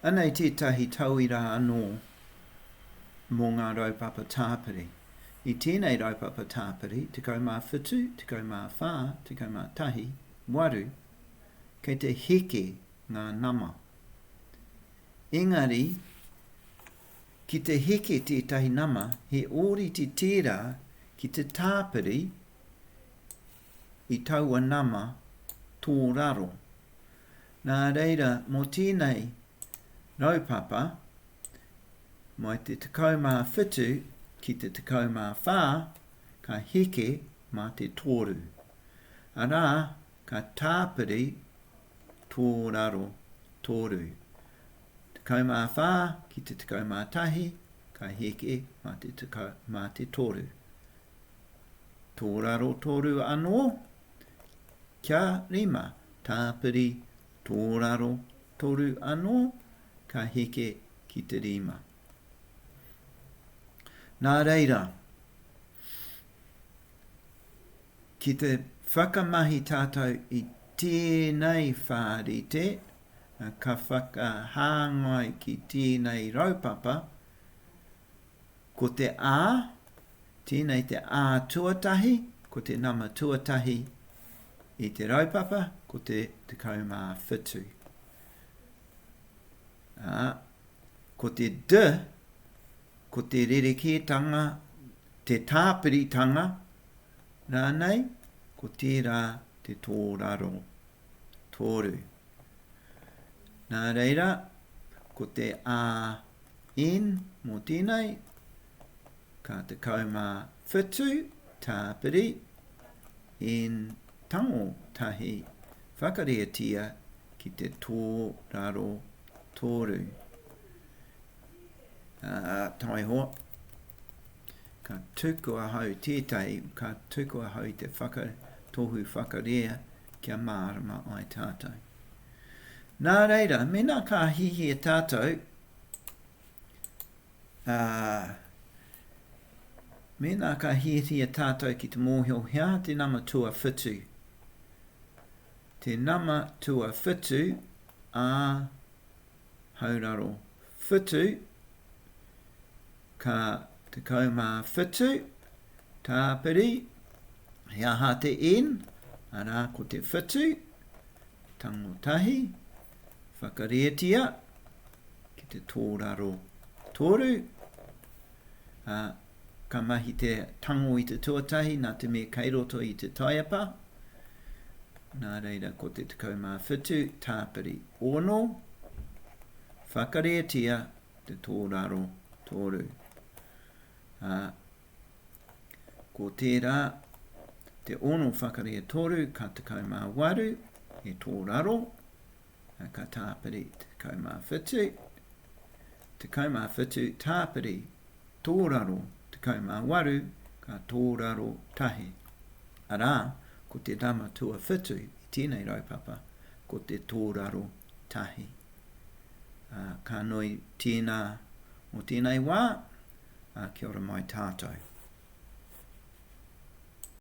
Anei tētahi tauira anō mō ngā raupapa tāpiri. I tēnei raupapa tāpiri, 17, 14, 11, 8, kei te heke ngā nama. Engari, ki te heke tētahi nama, he ōrite tērā ki te tāpiri i taua nama tōraro, Nā reira, mō tēnei raupapa, mai te 17 ki te 14, ka heke mā te toru, arā, ka tāpiri tō raro toru. 14 ki te 11, ka heke mā te toru. Tō raro toru anō, Kia rima tāpiri tōraro toru anō ka heke ki te rima. Nā reira, ki te whakamahi tātou i tēnei whārite, ka whakahāngai ki tēnei raupapa, Ko te a, tēnei te a tuatahi, ko te nama tuatahi i te raupapa, ko te 17. A, ko te d, ko te rerekētanga, te tāpiritanga, rānei, ko tērā te tōraro, tōru. Nā reira, ko te a In, mō tēnei, ka 17 tāpiri in tango tahi whakareatia ki te tōraro toru. Uh, taiho, ka tuku ahau tētai, ka tuku ahau i te whaka, tohu whakarea kia mārama ai tātou. Nā reira, mena ka hihia tātou, Ā, mēnā ka hiahia tātou ki te mōhio he aha te nama tuawhitu, te nama tuawhitu ā Hauraro Whitu, ka 17 tāpiri, he aha te N, arā ko te whitu, tango tahi, whakarietia, ki te tōraro tōru, a, ka mahi te tango i te tuatahi nā te mea kei roto i te taiapa, nā reira ko te 17 tāpiri ono, whakarētia te tōraro tōru. A, ko tērā te ono whakarē tōru ka 18 he tōraro, Ka tāpiri tekau mā whitu, tekau mā whitu tāpiri tōraro tekau mā waru ka tōraro tahi. Arā, ko te nama tuawhitu i tēnei raupapa, ko te tōraro tahi. Ā, ka nui tēnā mō tēnei wā, ā, kia ora mai tātou.